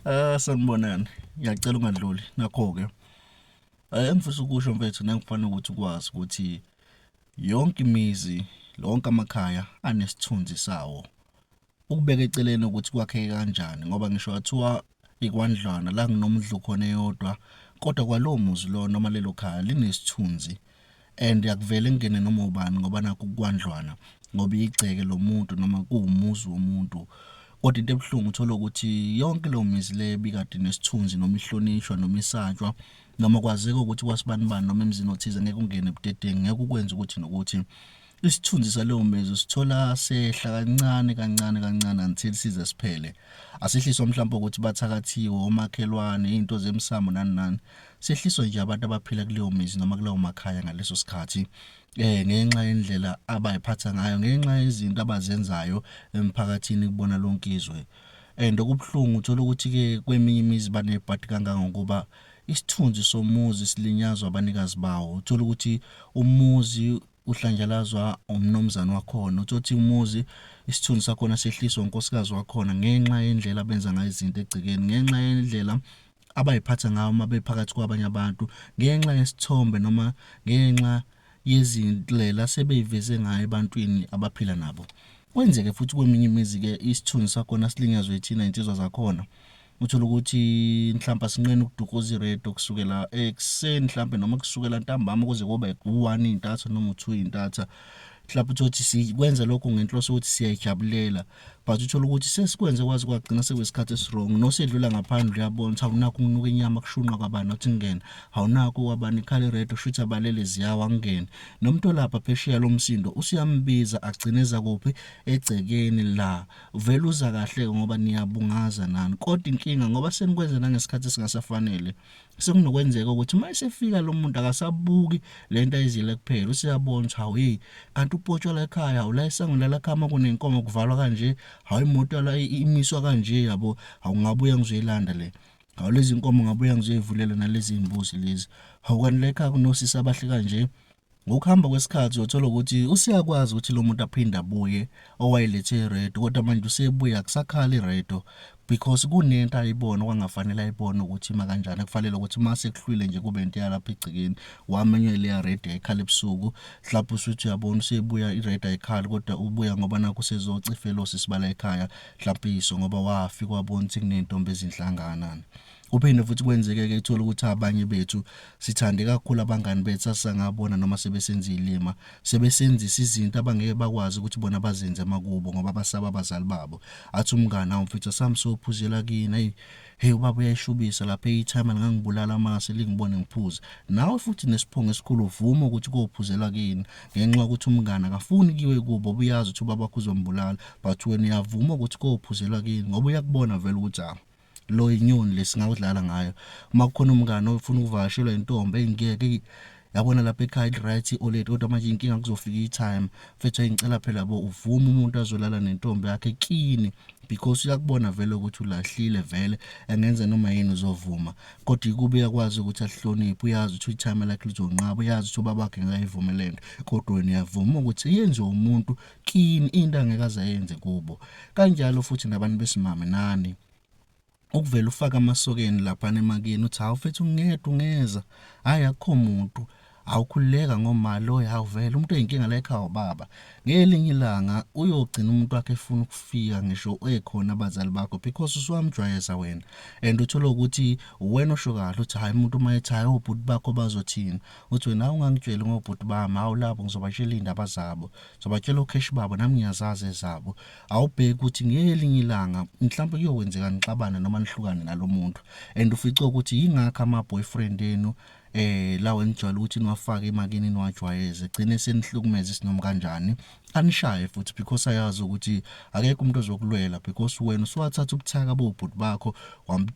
Ah sanibonani. Ngiyacela ungadluli. Nakho ke. Eh ngifisa ukusho mfethu nangifanele ukuthi ukwazi ukuthi yonke imizi, lonke amakhaya anesithunzi sawo. Ukubeka eceleni ukuthi kwakheke kanjani ngoba ngisho wathiwa ikwandlwana la kunomdlu khona eyodwa kodwa kwalowo muzi lo noma lelo khaya linesithunzi. and akuvele kungene noma ubani ngoba nakho kukwandlwana ngoba igceke lomuntu noma kuwumuzi womuntu kodwa into ebuhlungu uthola ukuthi yonke leyo mizi le bikade nesithunzi noma ihlonishwa noma isatshwa noma kwazeka ukuthi kwasibani bani noma emzini othize ngeke ungene budedengu ngeke ukwenze ukuthi nokuthi Isithunzi salowo mezwi sithola sehla kancane kancane kancane until size siphele. Asehliswa mhlawumbe ukuthi bathakathiwe omakhelwane, izinto zemsamo nani nani. Sehliswa nje abantu abaphila kuleyo mizi noma kulawo makhaya ngaleso sikhathi. Eh ngenxa yendlela abayiphatha ngayo, ngenxa yezinto abazenzayo emphakathini kubona lonke izwe. And okubuhlungu uthola ukuthi ke kweminye imizi banebhadi kangangokuba isithunzi somuzi silinyazwa abanikazi bawo. Uthola ukuthi umuzi uhlanjalazwa umnumzane wakhona uthi umuzi isithunzi sakhona sehliswa unkosikazi wakhona ngenxa yendlela abenza ngayo izinto egcekeni ngenxa yendlela abayiphatha ngayo uma bephakathi kwabanye abantu ngenxa yesithombe noma ngenxa yezindlela sebeyiveze ngayo ebantwini abaphila nabo kwenzeke futhi kweminye imizi-ke isithunzi sakhona silinyazwe ithina iy'nsizwa zakhona uthole ukuthi mhlawumbe asinqeni ukudukuza iredo kusukela ekuseni mhlawumbe noma kusukela ntambama kuze kobe u-one intatha noma u-two intatha mhlawumbe uthole ukuthi sikwenza lokho ngenhloso ukuthi siyayijabulela but uthole ukuthi sesikwenze kwazi kwagcina sekwesikhathi esirong nosedlula ngaphandle uyabona ukuthi awunakho ukunuka inyama kushunqa kwabani nothi ngingena awunakho kwabani ikhale redo shuthi abalele ziyawa ngingene nomntu olapha phesheya lo msindo usuyambiza agcineza kuphi egcekeni la vele uza kahle-ke ngoba niyabungaza nani kodwa inkinga ngoba senikwenze nangesikhathi esingasafanele sekunokwenzeka ukuthi uma esefika lo muntu akasabuki le nto ayizile kuphela useyabona ukuthi hawu yeyi kanti upotshwa la ekhaya hawu la esango lalakhama kunenkomo kuvalwa kanje hawu imoto la imiswa kanje yabo hawu ngabuya ngizoyilanda le hawu lezi nkomo ngabuya ngizoyivulela nalezi mbuzi lezi hawu kanti la ekhaya kunosisi abahle kanje Ngokuhamba kwesikhathi uyothola ukuthi useyakwazi ukuthi lo muntu aphinde abuye owayelethe iredo kodwa manje usebuya akusakhali iredo because kunento ayibona okwangafanele ayibone ukuthi ima kanjani kufanele ukuthi uma sekuhlwile nje kube into yalapha egcekeni wamenye leya redo yayikhala ebusuku mhlawumbe usuthi uyabona usebuya iredo ayikhali kodwa ubuya ngoba nakho usezocifelosi sibala ekhaya mhlawumbe iso ngoba wafika wabona ukuthi kunentombi ezinhlanganana Kuphinde futhi kwenzeke-ke uthole ukuthi abanye bethu sithande kakhulu abangani bethu sasangabona noma sebesenza iy'lima sebesenzisa izinto abangeke bakwazi ukuthi bona bazenze emakubo ngoba basaba abazali babo athi umngani awu mfethu sami sophuzela kini ayi heyi ubaba uyayishubisa lapha eyithayima lingangibulala amase lingibone ngiphuze nawe futhi nesiphungo esikhulu uvuma ukuthi kophuzela kini ngenxa yokuthi umngani akafuni kiwe kubo ubuyazi ukuthi ubaba wakho uzombulala but wena uyavuma ukuthi kophuzela kini ngoba uyakubona vele ukuthi awu lo inyoni lesingakudlala ngayo uma kukhona umngane ofuna ukuvakashelwa intombi engiyeke yabona lapha ekhaya i-right i-oled kodwa manje inkinga kuzofika i-time mfethu engicela phela bo uvume umuntu azolala nentombi yakhe kini because uyakubona vele ukuthi ulahlile vele engenza noma yini uzovuma kodwa ikuba uyakwazi ukuthi ahloniphe uyazi ukuthi i-time lakhe lizonqaba uyazi ukuthi ubabakhe ngayivumele nto kodwa wena uyavuma ukuthi yenziwe umuntu kini into angeke azayenze kubo kanjalo futhi nabantu besimame nani ukuvela ufaka amasokeni lapha nemakini uthi hawu mfethu ngedwa ungeza hayi akukho muntu awukhululeka ngoma lo yawuvela umuntu oyinkinga la ekhaya ubaba ngelinye ilanga uyogcina umuntu wakhe efuna ukufika ngisho ekhona abazali bakho because usuwamjwayeza wena and uthole ukuthi wena osho kahle uthi hayi umuntu uma ethi hayi obhuti bakho bazothini Uthi wena hawu ungangitsheli ngobhuti bami hawu labo ngizobatshela iy'ndaba zabo ngizobatshela okheshi babo nami ngiyazazi ezabo awubheki ukuthi ngelinye ilanga mhlawumbe kuyokwenzeka nixabane noma nihlukane nalo muntu and ufice ukuthi yingakho ama-boyfriend enu eh lawa enijwayele ukuthi niwafake emakini niwajwayeze gcine senihlukumeza isinom kanjani anishaye futhi because ayazi ukuthi akekho umuntu ozokulwela because wena usuwathatha ubuthaka bobhuti bakho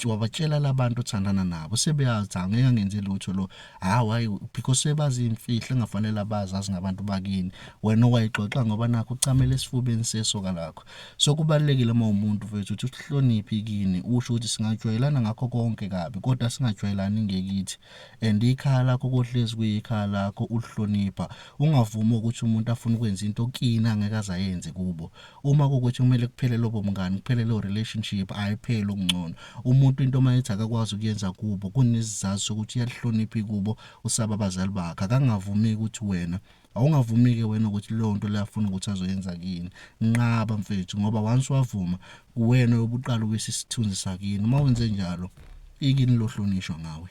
wabatshela labantu othandana nabo sebeyazi angeke angenze lutho lo hawu hayi because sebazi imfihlo engafanele abazi azi ngabantu bakini wena wayixoxa ngoba nakho ucamela esifubeni sesoka lakho so kubalekile uma umuntu mfethu uthi uhloniphi kini usho ukuthi singajwayelana ngakho konke kabi kodwa singajwayelani ngekithi and ikhaya lakho kohlezi kuyikhaya lakho ulihlonipha ungavumi ukuthi umuntu afuna ukwenza into kini angeke azayenze kubo uma kukuthi kumele kuphele lobo mngani kuphele lo relationship ayiphele okungcono umuntu into uma ethi akakwazi ukuyenza kubo kunesizathu sokuthi uyalihloniphi kubo usaba abazali bakhe akangavumi ukuthi wena awungavumi-ke wena ukuthi leyo nto leyo afuna ukuthi azoyenza kini nqaba mfethu ngoba once wavuma kuwena yobuqala uwisa isithunzi sakini uma wenze njalo ikini lohlonishwa ngawe